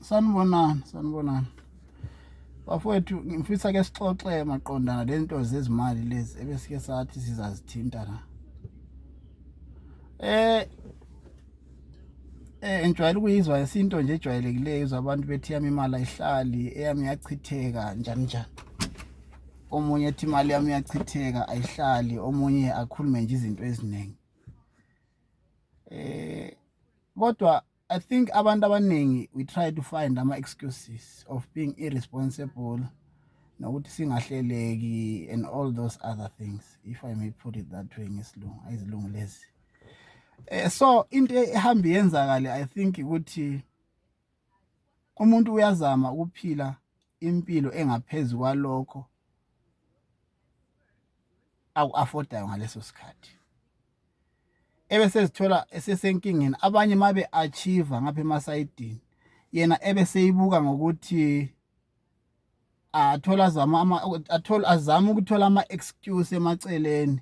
sanibonani sanibonani bafowethu ngifisa ke sixoxe maqondana le nto zezimali lezi ebesike sathi sizazithinta la eh eh ngijwayele ukuyizwa isinto nje ejwayelekileyo izwa abantu bethi yami imali ayihlali eyami yachitheka njani njani omunye ethi imali yami yachitheka ayihlali omunye akhulume nje izinto eziningi eh kodwa i think abantu abaningi we try to find ama excuses of being irresponsible nokuthi singahleleki and all those other things if i may put it that way ngesilungu ayizilungu lezi eh so into ehamba yenzakale i think ukuthi umuntu uyazama ukuphila impilo engaphezu kwalokho aku-afodayo ngaleso sikhathi ebese ezithola esesenkingeni abanye uma be-achieve ngapha emasayidini yena ebe seyibuka ngokuthi athola azama ama athola azama ukuthola ama excuse emaceleni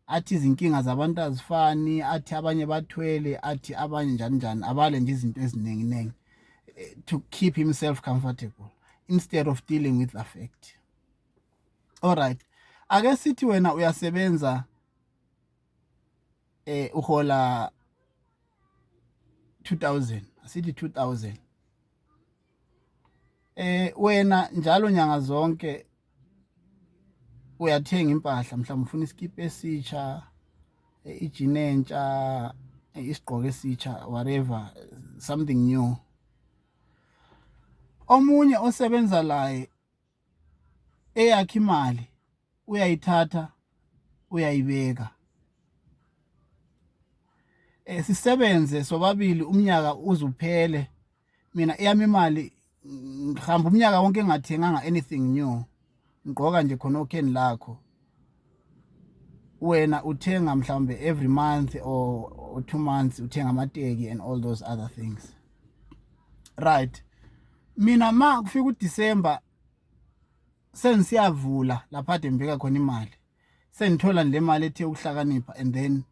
athi izinkinga zabantu azifani athi abanye bathwele athi abanye njani njani abale nje izinto eziningi ningi eh, to keep himself comfortable instead of dealing with the fact all right ake sithi wena uyasebenza eh uhola 2000 asithi 2000 eh wena njalo nyanga zonke uyathenga impahla mhlawumbe ufuna iskipa esitsha eh, ijini entsha eh, isigqoko esitsha whatever something new omunye osebenza laye eyakhe imali uyayithatha uyayibeka eh sisebenze sobabili umnyaka uzuphele mina eyami imali ngihamba umnyaka wonke engathenganga anything new ngigqoka nje khona okheni lakho wena uthenga mhlawumbe every month or, or two months uthenga amateki and all those other things right mina ma kufika uDecember sengisiyavula lapha ade ngibeka khona imali sengithola le mali ethe ukuhlakanipha and then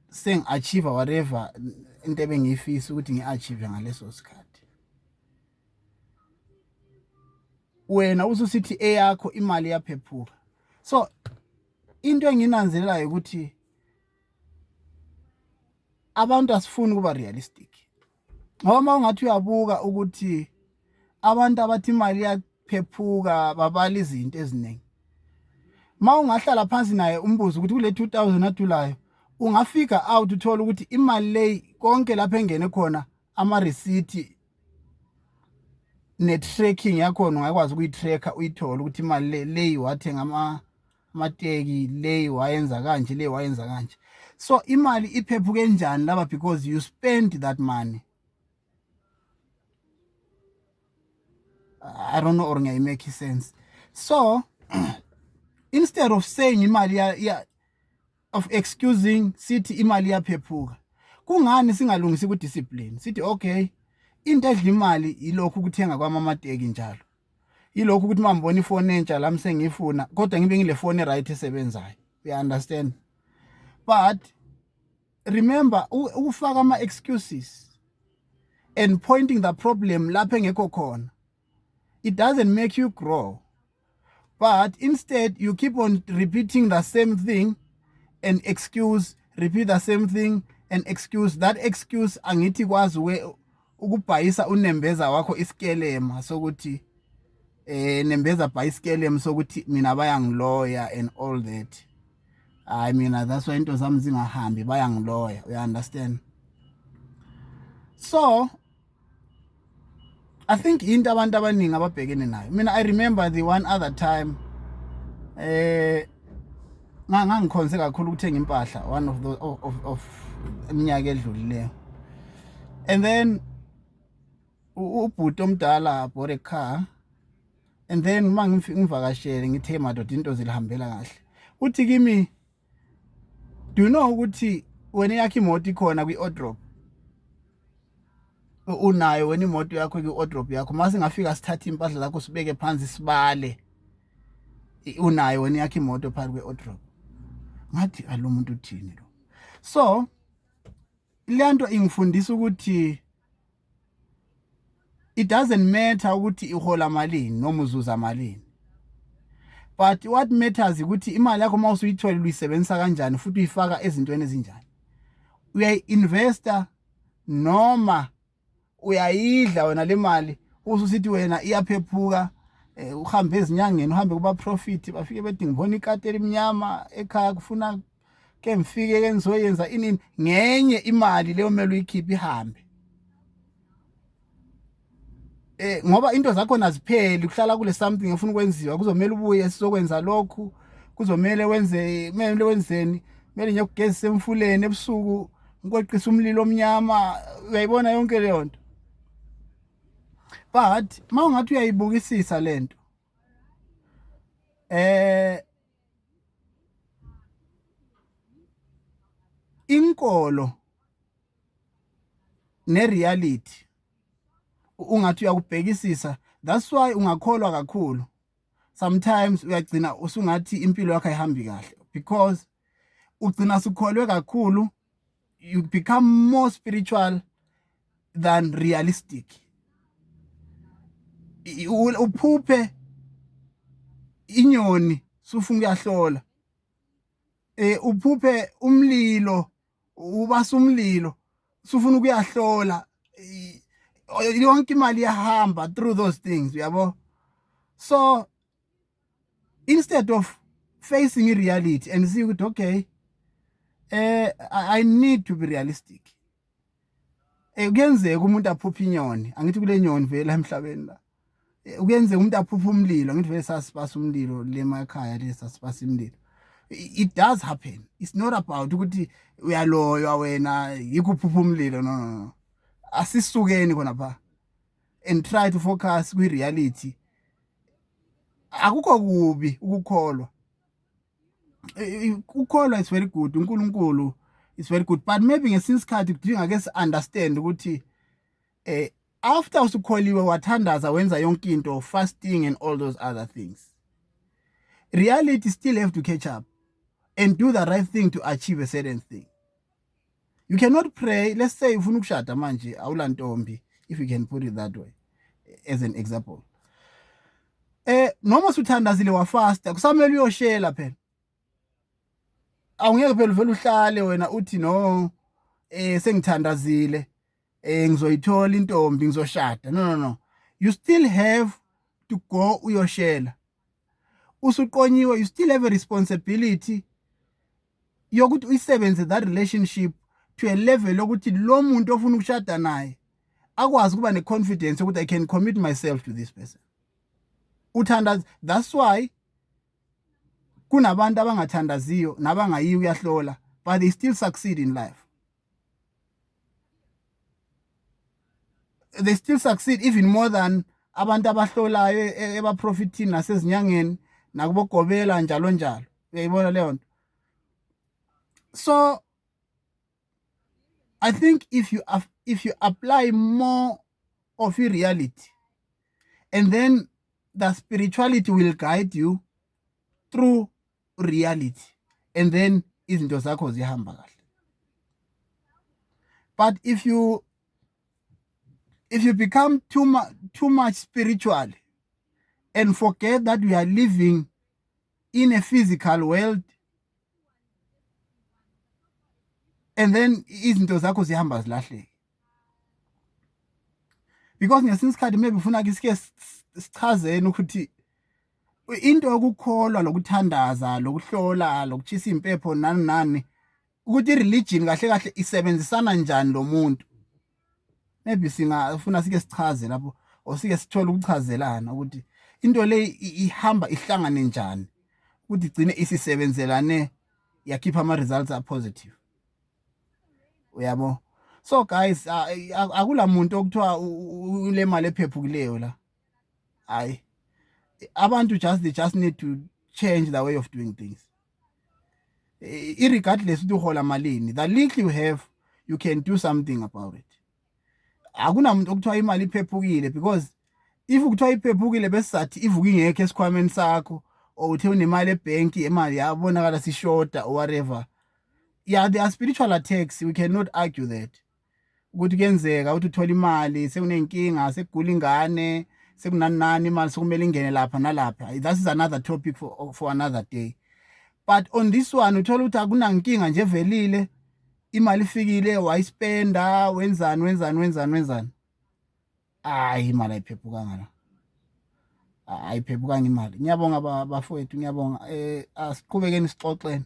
sengi-achieve whatever into ebengiyifisa ukuthi ngi-achieve ngaleso sikhathi wena ususithi eyakho imali iyaphephuka so into enginanzelelayo ukuthi abantu asifuni ukuba realistic ngoba uma ungathi uyabuka ukuthi abantu abathi imali iyaphephuka babala izinto eziningi uma ungahlala phansi naye umbuzo ukuthi kule 2000 adulayo ungafika out uthole ukuthi imali leyi konke lapho engene khona ama receipt ne-tracking yakhona ungakwazi ukuyi-track-a uyithole ukuthi imali le le wathenga amateki le wayenza kanje le wayenza kanje so imali iphephuke njani laba because you spend that money i don't know or ngiyayimake sense so instead of saying imali of excusing sithi imali iyaphephuka kungani singalungisi ku discipline sithi okay into edla imali ilokhu ukuthenga kwamamateki njalo ilokhu ukuthi mambona ifone entsha lami sengiyifuna kodwa ngibe ngile fone right esebenzayo you understand but remember ukufaka ama excuses and pointing the problem lapho engekho khona it doesn't make you grow but instead you keep on repeating the same thing and excuse repeat the same thing and excuse that excuse angithi kwazi we ukubhayisa unembeza wakho isikelema sokuthi eh nembeza bhayisikelema sokuthi mina bayangiloya and all that hayi mina that's why into zami zingahambi bayangiloya uya understand so I think into abantu abaningi ababhekene nayo mina I remember the one other time eh ngangikhonze kakhulu ukuthenga impahla one of the of, of, of iminyaka edlulileyo and then ubhuti omdala bought a car and then uma ngivakashele ngithe madoda into zilihambela kahle uthi kimi do you know ukuthi wena yakhe imoto ikhona kwi-odrop unayo wena imoto yakho kwi-odrop yakho uma singafika sithathe impahla zakho sibeke phansi sibale unayo wena yakhe imoto phakathi kwe-odrop ngathi alo muntu uthini lo so le nto ingifundisa ukuthi it doesn't matter ukuthi ihola malini noma uzuza malini but what matters ukuthi imali yakho uma usuyithola uyisebenzisa kanjani futhi uyifaka ezintweni ezinjani uyayi-investa noma uyayidla wena le mali ususithi wena iyaphephuka eh, uhambe ezinyangeni uhambe kubaprofit bafike bethi ngibona ikati elimnyama ekhaya kufuna ke ngifike ke ngizoyenza inini ngenye imali leyo mele uyikhiphe ihambe eh ngoba into zakho nazipheli kuhlala kule something efuna ukwenziwa kuzomela ubuye sizokwenza lokhu kuzomele wenze kumele wenzeni kumele nje kugezisa emfuleni ebusuku ngikweqisa umlilo omnyama uyayibona yonke leyo nto but mawungathi uyayibukisisa lento eh inkolo ne-reality ungathi uyakubhekisisa that's why ungakholwa kakhulu sometimes uyagcina usungathi impilo yakho ayihambi kahle because ugcina sukholwe kakhulu you become more spiritual than realistic uphuphe inyoni sufunga uyahlola eh uphuphe umlilo ubasa umlilo sufuna ukuyahlola yonke imali yahamba through those things uyabo so instead of facing i-reality and see ukuthi okay eh i need to be realistic eh kuyenzeka umuntu aphuphe inyoni angithi kule nyoni vele emhlabeni la eh, kuyenzeka umuntu aphuphe umlilo angithi vele sasibasa umlilo lemakhaya lesa sibasa imlilo it does happen it's not about ukuthi uyaloywa wena yikuphupha umlilo no no asisukeni khona pha and try to focus kwi reality akukho kubi ukukholwa ukukholwa is very good uNkulunkulu is very good but maybe ngesinye isikhathi kudinga ke si understand ukuthi eh after usukholiwe wathandaza wenza yonke into fasting and all those other things reality still have to catch up and do the right thing to achieve a certain thing you cannot pray let's say ufuna ukushada manje awulantombi if you can put it that way as an example eh noma usuthandazile wafasta kusamele uyoshela phela awungeke phela uvela uhlale wena uthi no eh sengithandazile eh ngizoyithola intombi ngizoshada no no no you still have to go uyoshela usuqonyiwe you still have a responsibility yokuthi uyisebenze that relationship to a level lokuthi lo muntu ofuna ukushada naye akwazi ukuba ne-confidence yokuthi i can commit myself to this person uthandaza that's why kunabantu abangathandaziyo nabangayiyo uyahlola but they still succeed in life they still succeed even more than abantu abahlolayo e, e, ebaprofithini nasezinyangeni nakubogobela njalo njalo uyayibona leyo nto so i think if you if you apply more of i-reality and then the spirituality will guide you through reality and then izinto zakho zihamba kahle but if you if you become too much too much spiritual and forget that we are living in a physical world and then izinto zakho zihamba zilahleke because ngesinye isikhathi maybe ufuna ke sike sichazeni ukuthi into yokukholwa lokuthandaza lokuhlola lokuchisa impepho nani nani ukuthi ireligion kahle kahle isebenzisana njani lo muntu maybe singafuna sike sichaze lapho or sike sithole ukuchazelana ukuthi into le ihamba ihlangane njani ukuthi igcine isisebenzelane yakhipha ama results a positive uyabo so guys akula muntu okuthiwa ulemali ephephukileyo la hayi abantu just they just need to change the way of doing things irregardless ukuthi uhola malini the little you have you can do something about it akunamuntu okuthiwa imali iphephukile because if kuthiwa iphephukile besizathi ivuka ingekho esikhwameni sakho or uthe unemali ebhenki imali yabonakala sishoda or whatever yeah there are spiritual attacks we cannot argue that ukuthi kuyenzeka ukuthi uthole imali sekunenkinga sekugula ingane sekunani nani imali sokumele ingene lapha nalapha that is another topic for, for another day but on this one uthola ukuthi akunankinga nje velile imali ifikile wayispenda wenzani wenzani wenzani wenzani hayi imali ayiphephukanga la ayiphephukanga imali ngiyabonga bafowethu ngiyabonga um asiqhubekeni sixoxeni